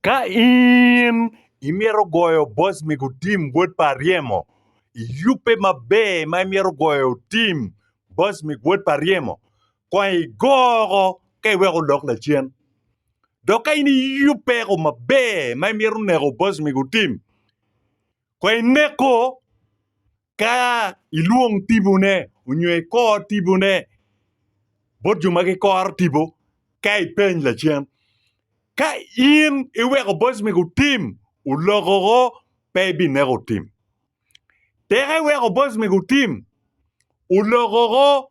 Ka in imito goyo boc mego tim wod pa aryemo, iyubbe maber ma imito goyo tim boc mego wod pa aryemo, kong igoko ka iweko odok lacen. Dok ka in iyubbe ko maber ma imito neko boc mego tim, kong ineko Ka ilwong tibone onyo ikor tibone bot jo ma gikoro tipo ka ipeny lacen, ka in iweko boc mege otim olokoko pe ibineko otim. Tek iweko boc mege otim olokoko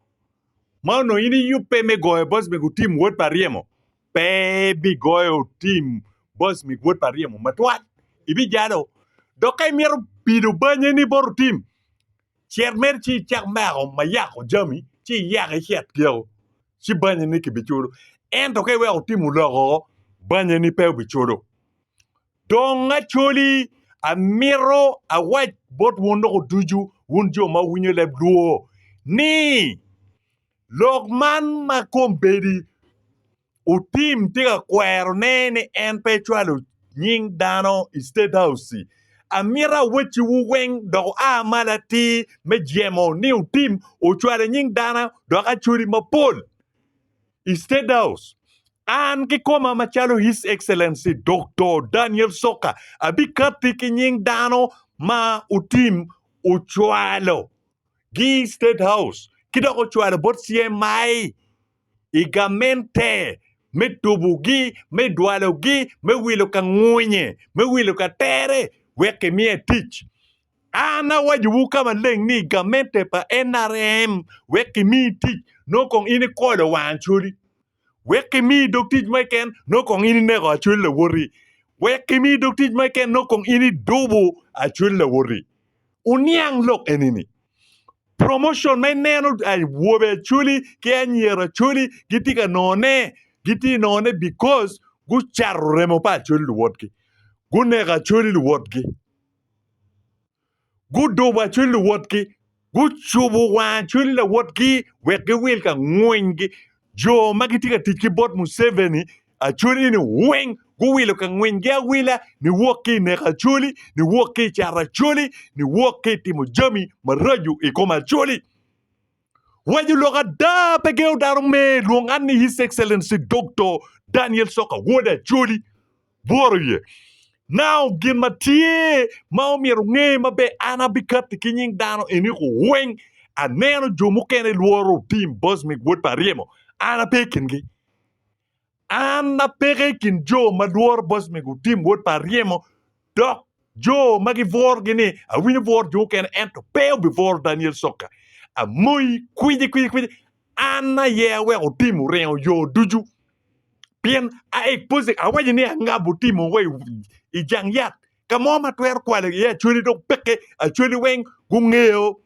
ma onongo in iyubbe me goyo boc mege otim wod pa ryemo. pe ibigoyo tim bos mi gwod pa ryemo matwal, ibijalo. Dok ka imito pido banye ni bot otim, cet mere ci icak meko ma yako jami, ci iyak icet giko, ci banye ni kibicudo. Ento ka iweko tim oloko, banye ni pe obicudo. Dong acoli, amito awac bot wun loko ducu, wun jo ma wuwinyo leb lwor, ni, Lok man ma kombeddi otim tye ka kwerone ni en pe ecwalo nying dano i State House-ci. Amito awecciwu weng dok wua malo atir me jemo ni otim ocwalo nying dano dok acwali mapol i State House. An kikoma macalo His Excellency Doktor Daniel Soka abikatti ki nying dano ma otim ocwalo gi i State House ki dok ocwalo bot CMI i gamente me tubogi, me dwalogi, me wilo ka ngwonye, me wilo ka tere wek kimiye tic. An awacowu ka maleng ni gamente pa NRM wek kimiyi tic nongo kong in ikolo wang codi. wek kimi dog tic ma keken nongo kong in ineko acwel lawoti, wek kimi dog tic ma keken nongo kong in idubo acwel lawoti. Wuniang lok eni-ni, promotion ma ineno awobe acweli ki anyira acweli gitye ka nongone, gitye nongone because gucato remo pa acweli luwotgi, guneko acweli luwotgi. Guduba cwiny luwotgi, gucubo war cwiny lawotgi wek giwil ka ngwingi. Jo ma gitye ka tic ki bot Museveni acoli-ni weng guwilo ka ngwingi awila niwok ki i neko acoli, niwok ki i cato acoli, niwok ki i timo jami maraco i kom acoli. Waco lok ada, pe gengo dano me lwong an ni His Excellency Doktor Daniel Soka Wod Acholi. Bworo iye. Now, gin ma tye ma omyero nge maber, an abikatti ki nying dano eni ku weng, aneno jo mukene lworo otim Bosmic Wod pa ryemo, an ape i kingi. An apeke i kin jo ma lworo boc me gutim wot pa ryemo, dok jo ma gibworogi ni awinyo bworo jo mukene ento pe obibworo Daniel Sokka. Amoyi kwidi kwidi kwidi, an aye aweko tim oringo yo ducu. Pien a expose awaco ni angabo timo wa i jang yat ka mo ma atwero kwalo iye acwali dok peke acwali weng gungeyo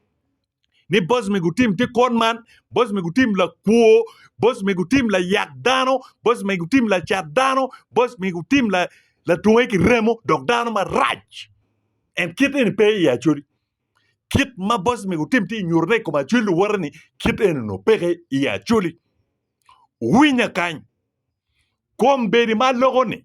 ni boc me gutim tye kwon man, boc me gutim lakwo, boc me gutim layak dano, boc me gutim lacat dano, boc me gutim la latunge ki remo dok dano marac. En kit eni pe i Acoli. Kit ma boc me gutim tye nyutone i kom Acoli luwote ni kit eni nongo peke i Acoli. Winya kany. Kombeddi ma loko ni.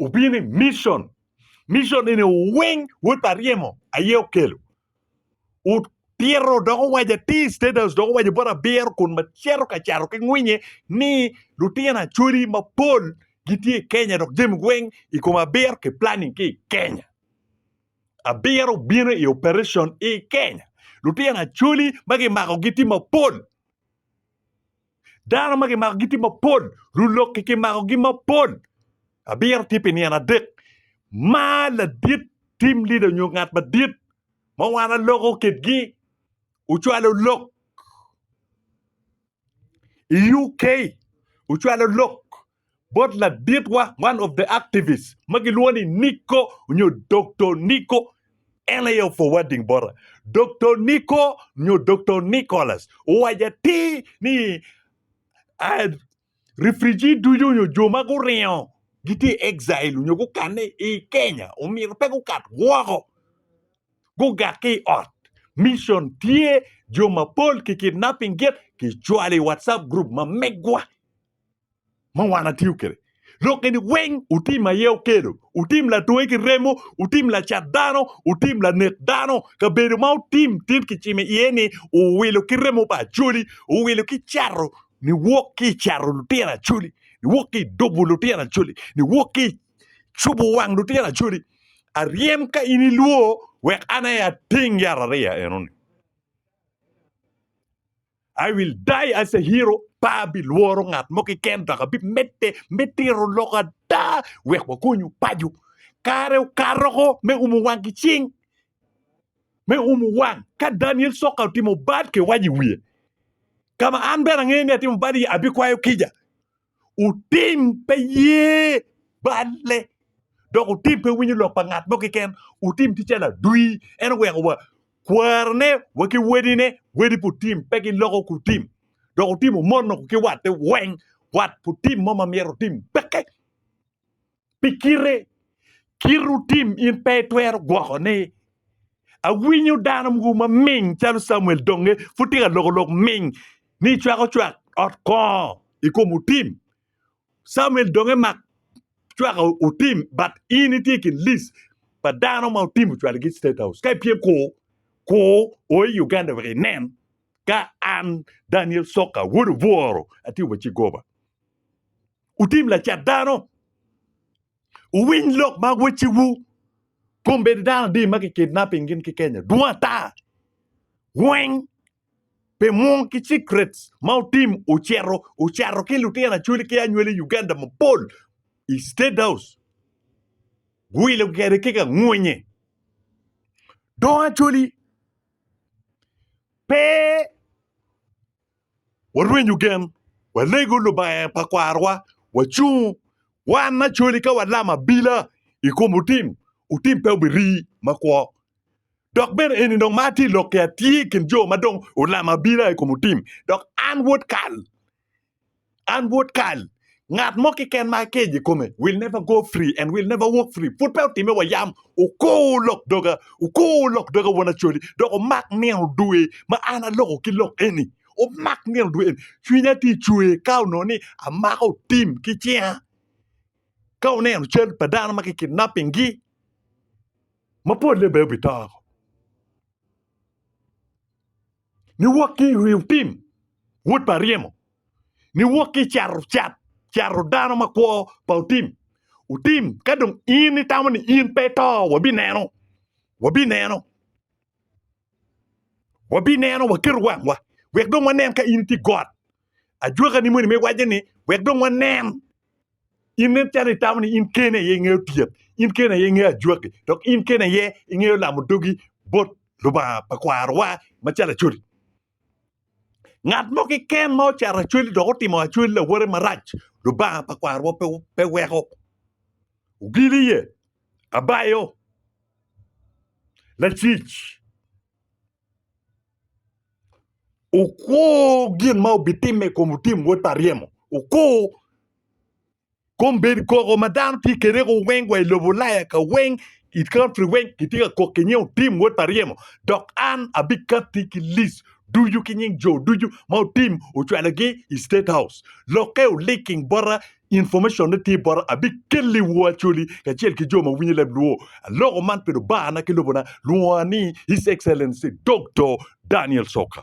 Opye ni mission. Mission eni weng wod pa ryemo aye okelo. Otito dok owaco atir state house dok owaco bot abiro kun ma cito ka cato ki ngwinye ni lutino acholi mapol gitye i Kenya dok jami weng i kom abiro ki planning ki i Kenya. Abiro obino i operation i Kenya. Lutino acholi ma kimakogi tye mapol. Dano ma kimako gitye mapol, rulok-ki kimakogi mapol. Abiro tye pi nino adek. Mar ladit tim lida onyo ngat madit ma wan aloko kitgi ocwalo lok i UK ocwalo lok bot laditwa, one of the activists, ma gilwongo ni Nico nyo Doktor Nico, NAL forwarding bota. Doktor Nico nyo Doktor Nicholas owaco atir ni ah, refugee ducu nyo jo ma guringo gitye i exile nyo gukanne i Kenya omyero pe gukat woko gugak ki i ot. Mission tye jo mapol ki kidnapping git kicwalo i WhatsApp group ma megwa. ma wan atiyo kede lok eni weng utim aye okelo utim latwe ki remo utim lacat dano utim lanek dano kabedo ma utim tit kicimo iye ni uwilo ki remo pa acoli uwilo ki cato niwok ki cato lutino acoli niwok ki dubo lutino acoli niwok ki cubo wang lutino acoli aryem ka in ilwo wek an aye ating yat ariya enoni I will die as a hero, pe abilworo ngat mo keken dok abimedde me tiro lok ada wek wakonyu paco. Kare okato ko me umo wang ki cing. Me umo wang, ka Daniel Soka otimo bad ki wac i wiye, ka ma an bene angeyo ni atimo bad iye, abikwayo kica. Otim pe ye balle, dok otim pe winyo lok pa ngat mo keken. Otim tye calo adwi, en oweko wa kwarone wa ki wedine, wedi pa otim pe giloko ki otim, dok otim omono ki watte weng, wat pa otim mo ma myero otim peke. pi kite kit otim in pe itwero gwoko ni awinyo dano mogo ma ming calo Samuel donge pud tye ka loko lok ming ni cwako cwak ot kongo i kom otim Samuel donge mak cwaka otim but in itye ki list pa dano ma otim ocwalo ki state house ka ipyem ku ku o i Uganda wek inen ka an Daniel Soka wod obworo atye wa ci goba Wutim lacat dano. Wuwiny lok ma wecciwu. Kombeddi dano adi ma kikidnapping gin ki Kenya dwong ata. Weng pe mwong ki secrets ma wutim wucito wucato ki lutino acwali ki anywali i Uganda mapol i State House guwilo kwede ki ka ngwonye. Dong acwali pe warwenyo gen, walego Lubanga pa kwarowa, wacung wan me acoli ka walam abila i kom otim, otim pe obirii makwo. Dok bene eni dong ma atye lok ki atye i kin jo ma dong olamo abila i kom otim, dok an wod kal. An wod kal, ngat mo keken ma akejo i kome will never go free and will never walk free. Pud pe otime wa yam, okur lok doga, okur lok doga won Acholi, dok omak nino dwe ma an aloko ki lok eni. Omak nino dwe eni. Cwinya tye cwer ka onongo ni amako tim ki cinga. Ka oneno cal pa dano ma ki kidnapping gi, ma polle bene obi to. Niwok ki i rio tim, wod pa ryemo. Niwok ki i cato cat, cato dano makwo pa otim. Otim, ka dong in itamo ni in pe ito, wabineno, wabineno, wabineno, waketo wangwa, wek dong wanen ka in itye i got, Ajwakani moni me wacce ni wek dong wanen. In nen calo itamo ni in kene aye ingeyo tyet, in kene aye ingeyo ajwaki, dok in kene aye ingeyo lamo dogi bot Lubanga pa kwarowa macalo Acholi. Ngat mo keken ma ocato Acholi dok otimo Acholi lawote marac, Lubanga pa kwarowa pe pe weko. Ogili iye, abayo, lacic. Okwo gin ma obitimme i kom Tim wod pa ryemo, okwo kom bed koko ma dano tye kwede weng wa i lobo Ulaya ka weng i country weng kitye ka kok ki nying Otim wod pa ryemo dok an abikatti ki list ducu ki nying jo ducu ma Otim ocwalogi i state house lokke o linking bota Information ne tye bota abikeli wo Acholi kacel ki jo ma winyo leb luo aloko man pi lubana ki lobona lwonga ni His Excellency Doktor Daniel Soka.